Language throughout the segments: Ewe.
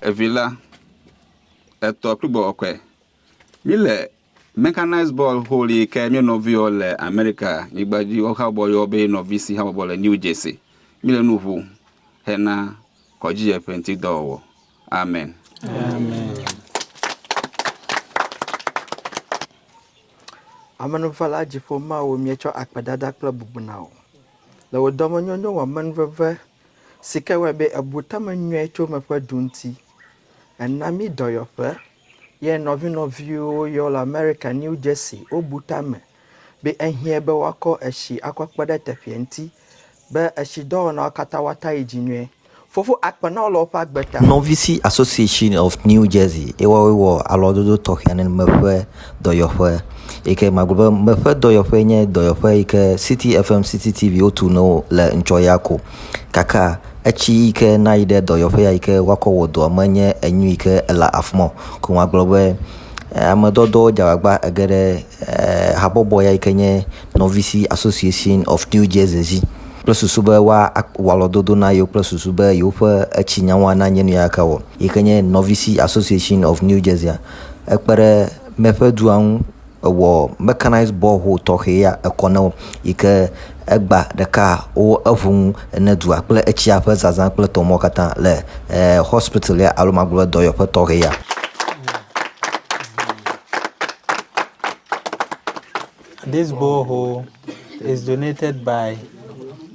Evi la, etɔ kple gbɔgbɔkɔe. Míle mɛkanaiz bɔl ƒoɖi yi ke mía nɔviwo le Amerika nyigba dzi wohabɔ yɔ be nɔvi si habɔbɔ le New Jersey. Míle nu ŋu hena kɔdzidzeƒe ŋuti dɔwɔwɔ. Amen. Amenuvela dziƒo Mawu, míetsɔ akpedada kple bubuna wò. Le wò dɔmenyonyo wɔ amenuveve Si ke wɔe be ebu tame nyuie tso eme ƒe du ŋuti. Ena mí dɔyɔƒe. Ye nɔvinɔviwo yɔ le Amerika, New Jersey, wobu tame be ehiẽ be woakɔ etsi akɔ kpe ɖe teƒea ŋuti be etsidɔwɔnawo katã woata yi dzi nyuie. Fofo akpe na wo le woƒe agbe ta. Nɔvisi Association of New Jersey ye woawoe wɔ alɔdodo tɔxɛ aɖe me ƒe dɔyɔƒe yi ke magblɔ be meƒe dɔyɔƒe nye dɔyɔƒe yi ke City FM City TV wotu nɔ wo le ŋtsɔ ya ko gake etsi yi ke na yi ɖe dɔyɔƒe ya yi ke woakɔ wɔ dɔ menye enu yi ke ele afi ma o. Ko magblɔ be amedɔdɔ dze agbagba ege ɖe e habɔbɔ ya yi ke nye Nɔvisi Association of New Jersey dzi kple susu be woawɔ alɔdodo na yewo kple susu be yewoƒe etsinyawoa nanye nu ya ke wɔ yi ke nye Nɔvisi Association of New Jersey. ekpe ɖe míaƒe dua ŋu ewɔ mɛkanaizi bɔhol tɔxɛ ya ekɔ na wo yi ke egba ɖeka wo eŋu nu ne dua kple etsia ƒe zazã kple tɔ mawo katã le e hɔspiti ya alo magblɔ be dɔyɔƒe tɔxɛ ya. Dis bɔhol is donatɛd bai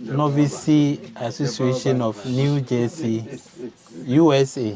nɔvisi asosiashin ɔf Niu Dzesin USA.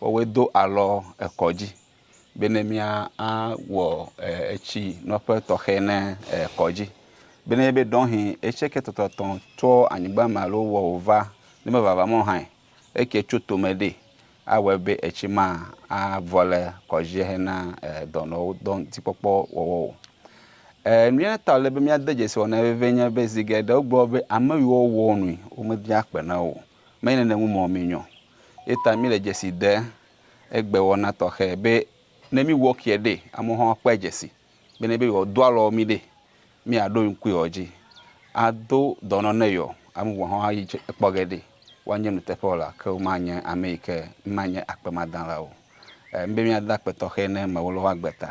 woawoe do alɔ ekɔ dzi bene míawɔ etsi nɔƒe tɔxɛ ne ekɔ dzi. Bene enye be ɖɔhi etsi ke tɔtɔtɔ tso anyigba me alo wɔ wòva ne mevava mɔ hã eke tso tome ɖi awɔe be etsi ma avɔ le kɔ dzi hena dɔnɔwo dɔ ŋuti kpɔkpɔ wɔwɔ o. E nu ya ta wòle be míade dzesi wɔnae vevie nye be zi geɖe wogblɔ be ame yiwo wɔa nui womebia kpe na wo o. Menye nene ŋu mɔ minyɔ o. Ye ta mile dzesi de egbe wɔna tɔxɛ be ne mi wɔ kiɛ ɖe, amewo hã akpɔe dzesi be ne be yewo do alɔ mi ɖe, mi a ɖo ŋkui yewo dzi a do dɔnɔ ne yewo. Ame bubu hã a yi dzi kpɔ ge ɖe woa nye nuteƒe wɔla, ke woma nye ame yike ma nye akpemadãla o. Ŋbe mia da akpe tɔxɛ ne mewolɔ woa gbe ta.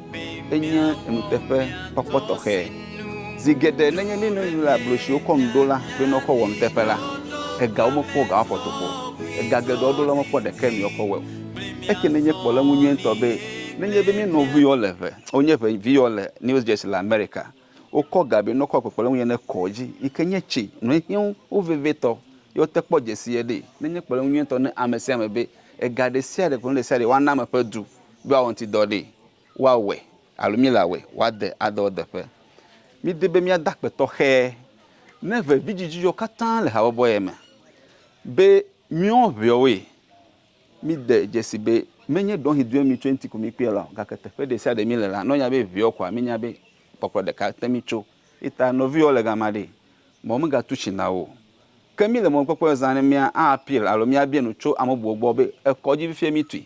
enye nuteƒe kpɔkpɔ tɔxɛ. Zi geɖe nenye mí nɔnɔewo le agble siwo kɔ nu ɖo la be ne woakɔ wɔ nuteƒe la, egawo mekpɔ ga woaƒo tokpo o. Ega geɖewo ɖo la, womekpɔ ɖeke mi woakɔ wɔe o. Eke nenye kpɔɖeŋu nyui ŋutɔ be nenye be mía nɔviwo le ŋe, wonye ŋe vi yewo le New Jersey le Amerika, wokɔ ga be ne woakɔ kpekpeɖeŋu yeye ne kɔ edzi yi ke nye tsi nɔ ehiã wo vevitɔ ye woate kpɔ dzesi ye ɖee. Nenye kpɔɖeŋu nyui ŋutɔ ne ame sia ame be ega ɖe sia ɖe kple nu ɖe sia ɖe woana ame ƒe du. do awɔŋtidɔ ɖee, woawɔe alo míele awɔe wòade adɔ edeƒe. Mídi be míada akpe tɔxɛ ne vevidzidzidzɔ katã le habɔbɔ ye me be míewɔ ʋeawoe. Mide dzesii be menye ɖɔhi due mí tso eŋuti ko míkpɔe la o, gake teƒe ɖe sia ɖe míele la, ne wonya be ʋeawo koa, mínya be kpɔkplɔ ɖeka te mí tso. Eya ta nɔviwò le gama ɖe, mɔ megatu tsi na wò o. Ke míle mɔkpɔkpɔe zã ne mía appeal alo míabia nu tso ame bubuwo gbɔ be ekɔ dzi fifia míetui.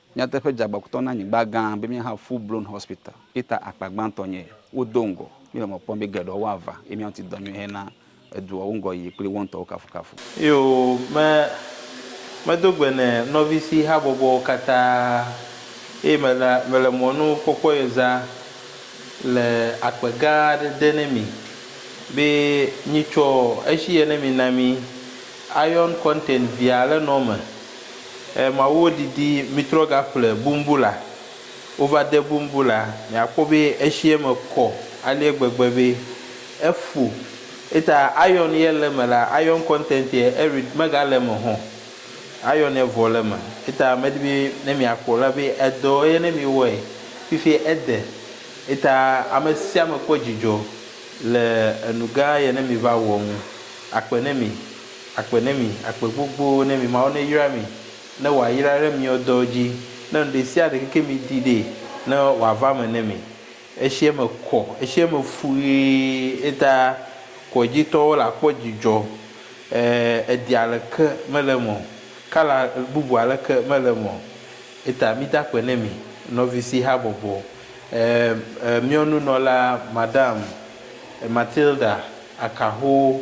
Nyateƒe dzeagbakutɔ na nyigba gã be míaha Full Blown Hospital ye ta akpa gbãtɔ nye ye. Wodo ŋgɔ mí le mɔ kpɔm be geɖewo woava ye mía ŋuti dɔ nyui hena edua wo ŋgɔyiyi kple wo ŋutɔwo kafukafu. Yo, me, medo gbe ne nɔvisi habɔbɔwo katã eye mele, mele mɔnu kpɔkpɔ ye zã le akpe gã aɖe de ne mi be nyitsɔ eshi ye ne mi na mi Ion Content via le nɔ me E Mawuwo didi mitrɔ gaƒle bumbula wova de bumbula miakpɔ be eshiɛ me kɔ aleɛ gbegbe be efu eta iron yɛ le me la iron content yɛ eri mega le me hɔn iron yɛ vɔ le me eta medi be ne miakpɔ la be edɔ yɛ ne mi wɔɛ fifi ede eta amesiame kpɔ dzidzɔ le enugã yɛ ne mi va wɔ ŋu akpe ne mi. Agbe ne mi, agbe gbogbo ne mi, Mawu ne yra mi, ne wa yra re miɔ dɔwo dji, ne nuɖesiaɖe keke mi di ɖɛ, ne wa va me ne mi. Eshi eme kɔ, eshi eme fu ɣee, eta kɔ dji tɔwo la kpɔ djidjɔ, e, edi aleke mele eme o, kala bubu aleke mele eme o. Eta mi dakpe ne mi, nɔvi si ha bɔbɔ, e, e, miɔ nunɔla Madame Matilda akahowo.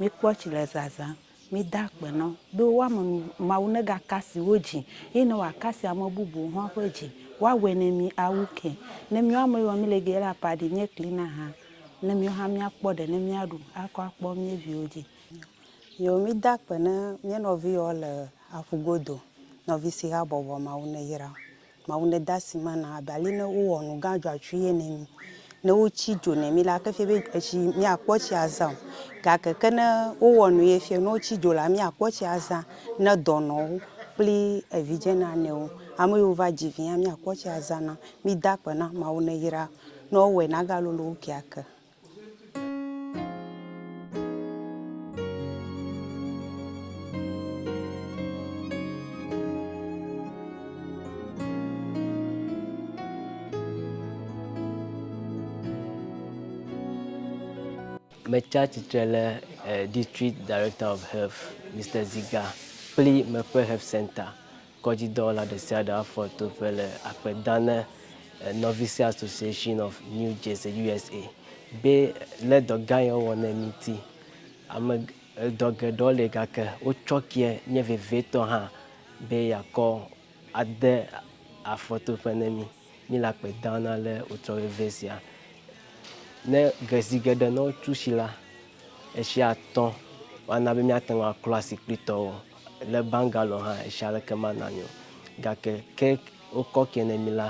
Mikpɔ tsi le zazã, mida akpe nɔ, be woame nu Mawu nega kasi wo dzi, ye ne wa kasi ame bubuwo hɔn ƒe dzi. Wa wɛ ne mi a wu ke. Ne miɔ ame yɔ mi le ge la pa ɖi nye kli na ha, ne miɔ ha mia kpɔ ɖe ne mia ɖu a kɔ akpɔ mie viwo dzi. Yo mida akpe ne mie nɔvi yɔ le aƒu godo, nɔvi si ha bɔbɔ Mawu ne yra. Mawu ne dasi ma na abe ali ne wowɔ nu gã dzɔatsu ye ne mi ne wotsi dzo ne mi la ke fie be etsi mi akpɔ tsi azã o gake ke ne wowɔ nu ye fie ne wotsi dzo la mi akpɔ tsi azã ne dɔnɔwo kpli evidze nanewo ame yiwo va dzi vi hã mi akpɔ tsi azã na mi da akpe na mawu ne yra ne wowɔe na ga lolo wo keake. Metsi atsitre ɖe District Director of Health, Mister Ziga, kple Mekpe Health Centre. Kɔdzidɔwɔla ɖesiaɖe afɔ toƒe le akpe dam ne Novice Association of New Jersey, USA. be lé dɔ gã ye wowɔ nɛ ŋuti. Ame dɔ geɖewo li gake wotsɔ keɛ nye vevietɔ hã be yeakɔ ade afɔtoƒe ne mí. Míle akpe dam na ale wotsɔ veve sia. Ne ve zi geɖe ne wotsu tsi la, etsia tɔ woana be míate ŋu aklɔ asi kpli tɔwo. Le Bangalore hã etsi aleke mana mí o. Gake ke wokɔ ke ne mí la,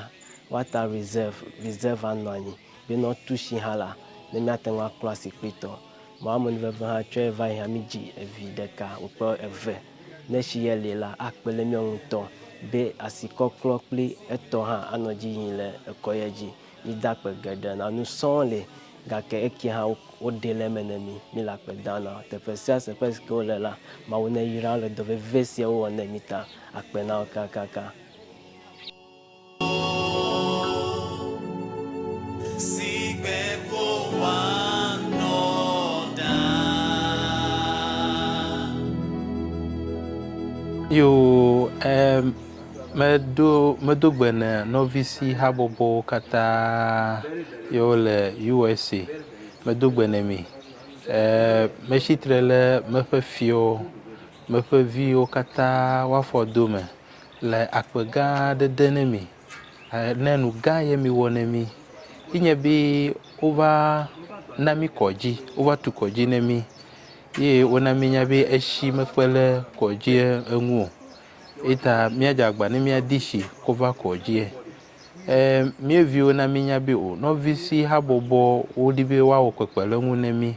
woata reserve, reserve anɔ anyi be ne wotsu tsi hã la, ne míate ŋu aklɔ asi kpli tɔ. Mamun veve hã tsɔe va yi hã mídzi evi ɖeka wòkplɔ eve. Ne tsi ye li la, akpe ɖe míawo ŋutɔ be asi kɔklɔ kpli etɔ hã anɔ dzi yim le ekɔ ye dzi. Míde akpe geɖe na nu sɔ li gake ekie hã woɖe le eme ne mí. Míle akpe dam na teƒe sia teƒe si ke wole la. Mawu neyra wo le dɔ vevi si wɔwɔ ne mí ta. Akpe na wo kakaka. Yo, em, meɖo medo gbe ne nɔvisi habɔbɔwo katã yi wo le USA. Medo gbe ne mi. E, metsi tre ɖe meƒe fiwo, meƒe viwo katã woafɔ do me. le akpe gã aɖe de ne mi ne nu gã ye miwɔ ne mi ye nye be wova na mi kɔdzi wova tu kɔdzi ne mi ye wona mienya be etsi mekpe ɖe kɔdzia ŋu o eya ta míadze agbagba ne míadi tsi kɔ va kɔdzie. E mía viwo na mienya be o nɔvi si habɔbɔ wodi be woawɔ kpekpeɖeŋu ne mi.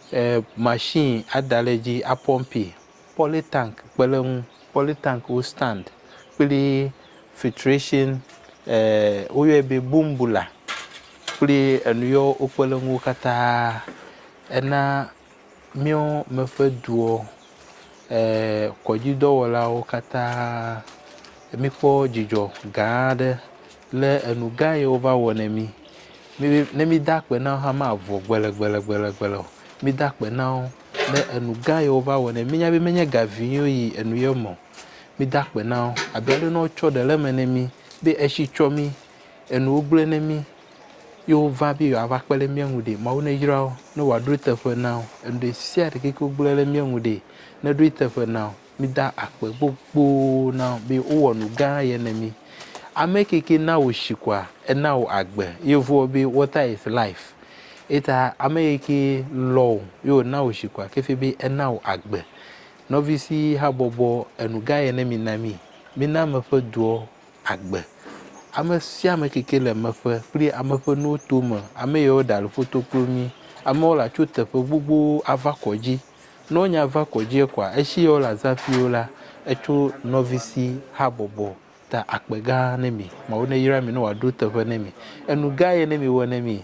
Machine ada ɖe edzi apɔmpee, polytank kpe ɖe eŋu, polytank wo stand kple filtration woyɔe be boom bula kple enu yi wokpe ɖe eŋu katã. Ena míawo me ƒe duwo Eee kɔdzidɔwɔlawo katã, míkpɔ dzidzɔ gã aɖe le enu gã yi wova wɔ na mí. Mi ne mída akpe na wo hã mavɔ gbelegbelegbele o. Mída akpe na wo ne enu gã yi wova wɔ na mí. Míenya be menye ga vee ye woyi enu ye me o. Mída akpe na wo abe ale yi ne wotsɔ ɖe le eme na mí be etsi tsɔ mí, enuwo gblẽ na mí ye wova be yewoava kpe ɖe mía ŋu ɖe. Mawu neyra wo ne wòaɖo eteƒe na wo. Enu ɖe sia ɖe ke wogblẽ ɖe mía ŋu ɖe, neɖo eteƒe na wo. Mida akpe gbogbo na wo be wowɔ nu gã ye na mí. Ame ke ke na wò shi kɔa, ena wò agbe. Yevuwo be water is life. Eta ame yi ke lɔ̃ wò ye wòna wò shi kɔa, ke fia be ena wò agbe. Nɔvisi habɔbɔ, enu gã ye ne mina mí. Mína ame ƒe doɔ agbe. Ame sia ame ke ke le ame ƒe kple ame ƒe nuwo tome, ame yawo ɖe ali ƒoto kpli wo mí. Amewo la tso teƒe gbogbo ava kɔdzi. Ne wonya va kɔdzi kɔa, esi ye wole azã ƒi wo la, etso nɔvisi habɔbɔ ta akpe gã ne mi. Mawu neyra mi ne wòaɖo teƒe ne mi. Enu gã ye ne mi wɔ ne mi